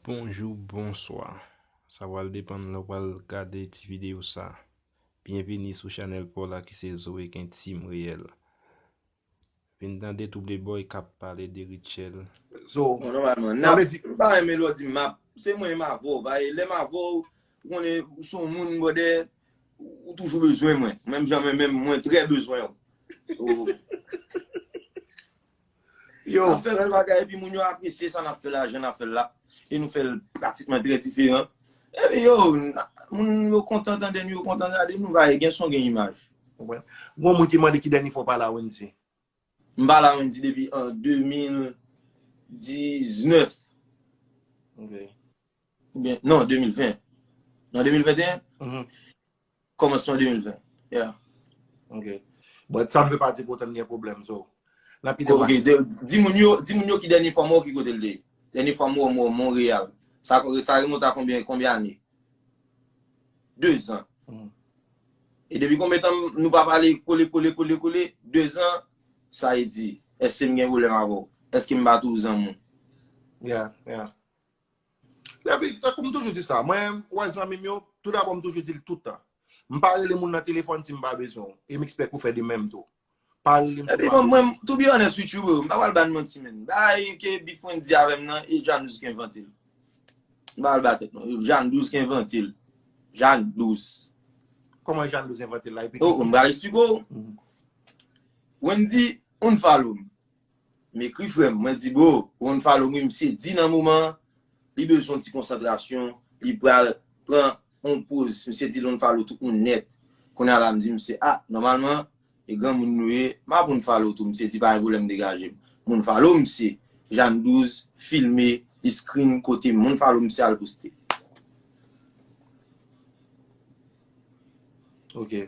Bonjou bonswa sa pral depann lè w pral gade ti videyo sa byenvini sou chanèl paw la ki se zoe gen team reyèl vin tande tou de bòy kap pale de Rutshelle Zo ou konnen nòmalman Sa nap vle di m pa renmen lè w di m map se mwen m avè w paske lè m avè w ou konnen ou son moun bròdè ou toujou bezwen mwen menm jan mwen menm mwen trè bezwen w Nap fè bèl bagay epi moun yo apresye sa nap fè la, jan nap fèl la e nou fèl pratikman trè diferan epi yo moun yo kontan tande nou, yo kontan gade nou paske gen son gen imaj. Gon moun ki mande ki dènye fwa w pale a Wendy? M pale a Wendy depi an 2019 oubyen non 2020 nan 2021? Kòmansman 2020, yeah. Ok. But sa m fè pati pote m gen pwoblèm so. Nan ki depatman? Ok, di moun yo, di moun yo ki dènye fwa m wè w ki kote l te ye. Dènye fwa m wè w mwen w Montréal. Sa remonte a konbyen, konbyen ane? Dezan. E depi konbyen tan nou pa pale kole kole kole kole, dezan, sa e di, èske m gen pwoblèm avè w? Èske m bat ou zanmi w? Yeah, yeah. Epi, tankou m toujou di sa, mwen wè zanmi m yo, tou dabò m toujou di l tout tan, m pa rele moun nan telefòn si m pa bezwen w, e m ekspèk ou fè de menm tou. Pa rele m si w pa bezwen m. Epi mwen, to be honest with you bro, m pa pral ba n manti menn, bagay ke Bifrens di avè m nan, e Jan 12 k envante l. M pa pral ba tèt non, e Jan 12 k envante l. Jan 12. Kòman Jan 12 envante l la? Epi ki. Oh, m pral esplike w. Wendy unfollow m. M ekri frèm, mwen di bro pou yon follow me misye di nan moman an li bezwen yon ti konsantrasyon li pral pran yon poz misye di l unfollow tout moun nèt kounya la m di misye ah nòmalman e granmoun nou ye m ap unfollow tou misye di pa gen pwoblèm degaje m m unfollow misye Jam 12 filme li screen kote m unfollow misye al poste ok.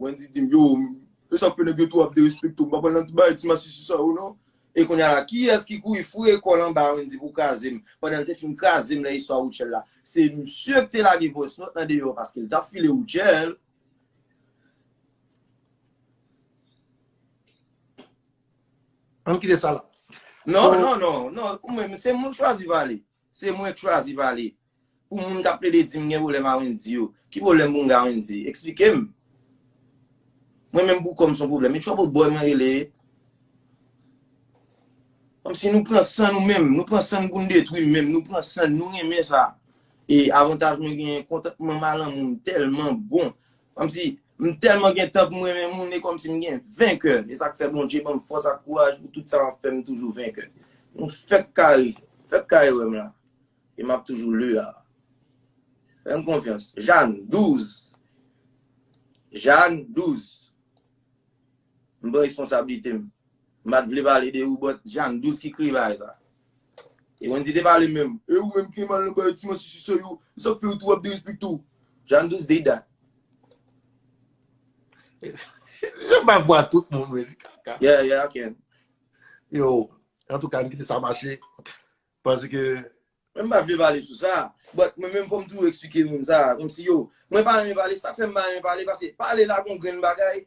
Wendy dim yo e sa fe neg yo tou ap derespekte m pa pran nan ti bagay ti masisi sa yo non. E kounya la kiyès ki kouri foure kòl anba Wendy pou krazem pandan l te fin krazem nan istwa Rutshelle la se misye ki te lage voice note lan deyò paske l tap file Rutshelle. Ann kite sa la. Non non non non ou menm se moun chwazi pale. Se mwen k chwazi pale. Pou moun kap plede dim gen pwoblèm a Wendy yo, ki pwoblèm pou m gen a Wendy? Eksplike m. Mwen menm pou kòm son pwoblèm. E trouble boy mwen rele e. Kòmsi nou pran san nou menm, nou pran san n pou n detwi menm, nou pran san n, nou renmen sa. E avantaj mwen genyen kontantman m a lanmou m tèlman bon, Kòmsi m tèlman gen tan pou m renmen moun e kòmsi m gen venkè e sa k fè Bondje ban m fòs ak kouraj pou tout sa m ap fè m toujou venkè nou fèk kare fèk kare wè m la e m ap toujou le a fè m konfyans Jàn 12 Jàn 12 m pran responsablite m m pa t vle pale de ou but Jàn 12 ki krivay sa E Wendy te pale menm. E ou menm Kemal nan bay ti manti sou sèl ou. Sak fè ou tou ap derespekte ou. Jean Douce did that. Janm bay vwa tout moun wè li kaka. Yeah, yeah, I can. Yo, an tou ka m kite sa mache. Panse ke. Mwen pa vle pale sou sa. But mwen menm fòm tou eksplike moun sa. Kom si yo. Mwen pa renmen pale. Sak fè m pa renmen pale. Pase pale la gon grenn bagay.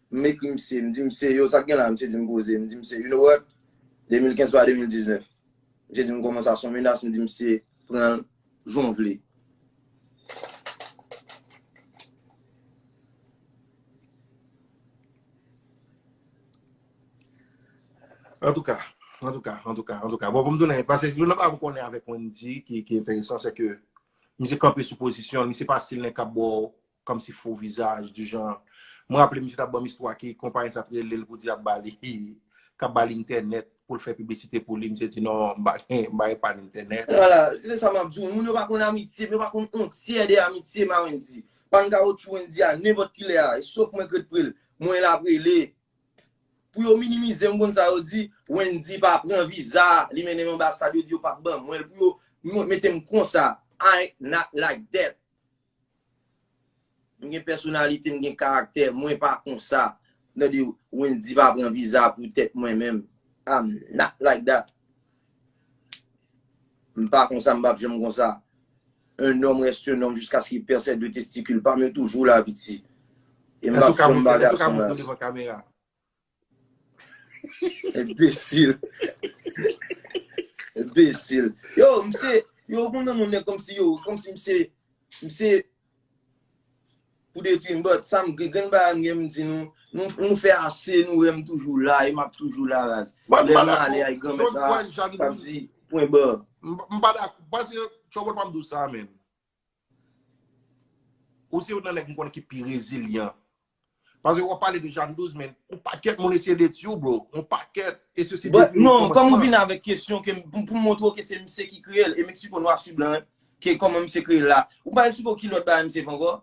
M ekri misye, m di misye, yo sa k gen la? Misye di m poze, m di misye, you know what, 2015 pa 2019. Misye di m kòman sa, son menas, m di misye, pran l jan w vle. Antouka, antouka, antouka, antouka, bon pou m tounen, pase yon nan pa m konnen avèk Wendy ki enteresan se ke misye kanpe sou pozisyon l, misye pa stil nèg k ap ba w Kòm si fo vizaj di jan M raple misye t ap ban m istwa ki konpayi sa t rele l pou di y ap ba li k ap ba li entènèt pou l fè piblisite pou li misye di non m pa gen m pa epann entènèt. Wala, se sa m ap di w. Moun yo pa konn amitye, yo pa konn on tyè de amitye ma Wendy. Pann kawotchou Wendy a nenpòt ki lè a, sof mwen k ret pre l, mwen l ap rele pou yo minimize m konn sa yo di Wendy pa pran viza li mennen m anbasad yo di yo p ap ban mwen l pou yo mete m konsa I not like that. M gen pèsonalite, m gen karaktè, mwen pa konsa. Tande Wendy pa pran viza pou tèt mwen menm. I'm not like that. M pa konsa, m pap janm konsa. Un homme reste un homme jusqu'à ce qu'il perd ses deux testicules pa m yo toujou la piti. E m pap janm ba gason la. Enbesil. Enbesil. Yo, mse, yo kon nan moun ne kom si yo, kom si mse, mse, pou de ti mbot, sa m gen, gen ba an gen m di nou, nou fè ase, nou wè m toujou la, e m ap toujou la raz. Mwen pa la kou, chon ti wè jan nou. Mwen pa la kou, chon ti wè jan nou. Mwen pa la kou, chon ti wè jan nou. Mwen pa la kou, chon ti wè jan nou. Ou se youn nan nèg m konnen ki pi rezilyan. Pase wap pale de Jan 12 men yon pakèt moun eseye detwi w bro. Yon pakèt. E se si detwi w kòmansman. Non, kòm ou vin avèk kesyon ke m pou m montre w ke se misye ki kreye l e m eksplike w nwa su blan ke kòman misye kreye l la. Ou pa eksplike w ki lòt bagay misye fè ankò?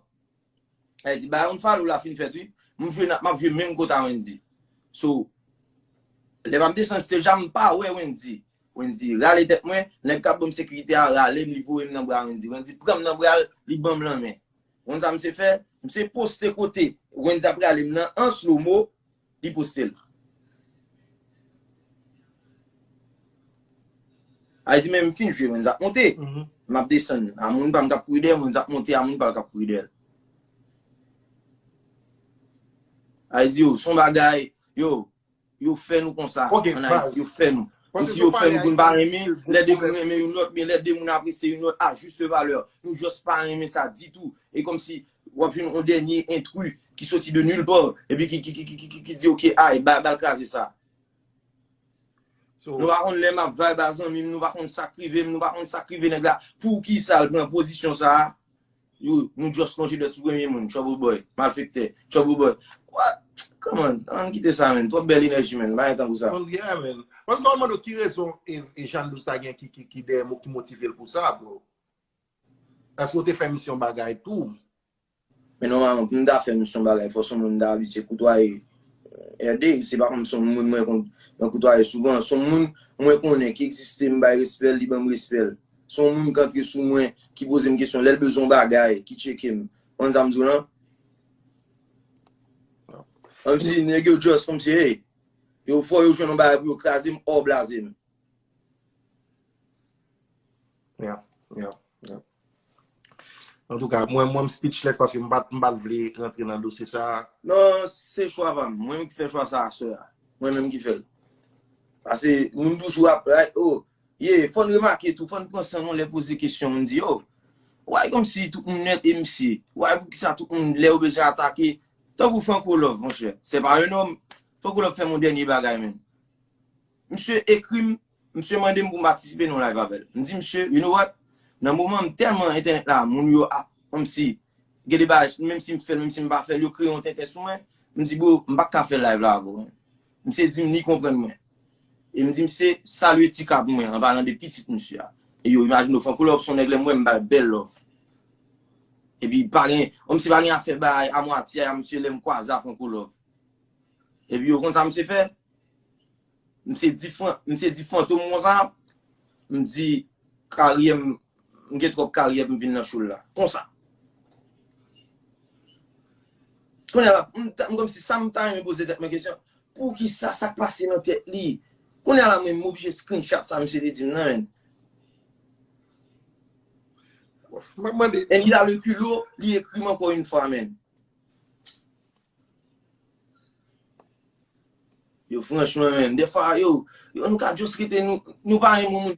E'l di bayon falou la fin fèt wi, m jwe nap map jwe menm kot a Wendy. So lè map desann stage a m pa wè Wendy, Wendy rale tèt mwen, nèg kap banm sekirite a ralem li voyem nan bra Wendy, Wendy pranm nan bral li banm lanmen. Konn sa misye fè, misye poste kote Wendy ap ralem nan an slow mo, Li pouse l. Al di men m fin jwe moun sa ap monte. M ap desann. A moun pa m k ap kouri dèyè moun sa ap monte a moun pa l k ap kouri dèyè l. Al di yo son bagay yo yo fè nou konsa an Ayiti yo fè nou. Kòmsi yo fè nou pou n pa renmen lè de moun renmen yon lòt oubyen lè de moun apresye yon lòt a jis valè. Nou just pa renmen sa ditou. E kòmsi Wap jwenn yon dènye intrus ki soti de nulle part epi ki di ok ay bal kraze sa. Nou pa konn lè map vibe a zanmi m, nou pa konn sak rive m, nou pa konn sak rive nèg la, poukisa l pran pozisyon sa a? Yo, nou just lonje dwèt sou premye moun, trouble boy, malfektè, trouble boy. What? Come on, ann kite sa menn, twòp bèl enèji menn, pa gen tankou sa. Yeah menn. Mwen ta konn mande w ki rezon Jean Louis ta gen ki dèyè, ki motive l pou sa bro? Eske w te fè misyon bagay tou? Men nòmalman pou m ta fè misyon bagay fò son moun m ta abitye koutwaye RD. Se pa kòm son moun mwen konn mwen koutwaye souvan. Son moun mwen konnen ki egziste m bay respè l, li ban m respè l. Son moun k antre sou mwen, ki poze m kesyon lè l bezwen yon bagay, ki tcheke m. Konprann sa m di w lan? Kòmsi nèg yo just kòmsi hey, yo fò yo jwenn yon bagay pou yo kraze m or blaze m. Yap, yap, yap. Antouka, mwen mwen m speechless paske m pat m pat vle rantre nan dosye sa a. Non, se chwa pa m. Mwen menm ki fè chwa sa a sè a. Mwen menm ki fè l. Pase moun toujou ap bay, oh, ye, fò n remake tou, fò n pran san nou lè poze kesyon moun di, oh, why kòmsi tout moun nèt e msi, why poukisa tout moun lè yo bezwen atake, tankou Franco Love monchè, c'est pas un homme, Franco Love fè m yon dènye bagay menn. Misye ekri m, misye mande m pou m patisipe nan yon live avè l. M di misye, you know what, nan moman m tèlman entènèt la moun yo ap kòmsi gen de bagay menm si m fè l menm si m pa fè l yo kreye yon tenten sou mwen, m di bro m pa ka fè live la avè w menm. Misye di m li konprann mwen. E m di misye salye ti ka pou mwen an palan de pitit misye a. E yo imajine w Franco Love s on nèg lè m wè m ba l bèl love. Epi pa gen, kòmsi pa gen afè bay a mwatye a misye lè m kwaze a Franco Love. Epi ou konn sa misye fè? Misye di fran, misye di fantom konsa, m di karyè m, m gen twòp karyè pou m vin nan show l la. Konsa. Kounye a la, m ta, m kòmsi sa m ta renmen poze tèt mwen kesyon, poukisa, sa k pase nan tèt li? Kounye a la menm m oblije screenshot sa misye te di m nan menn. M ap mande. And il a le culot li ekri m ankò une fois menn. Yo franchman menn defwa yo nou ka just rete nou pa renmen moun.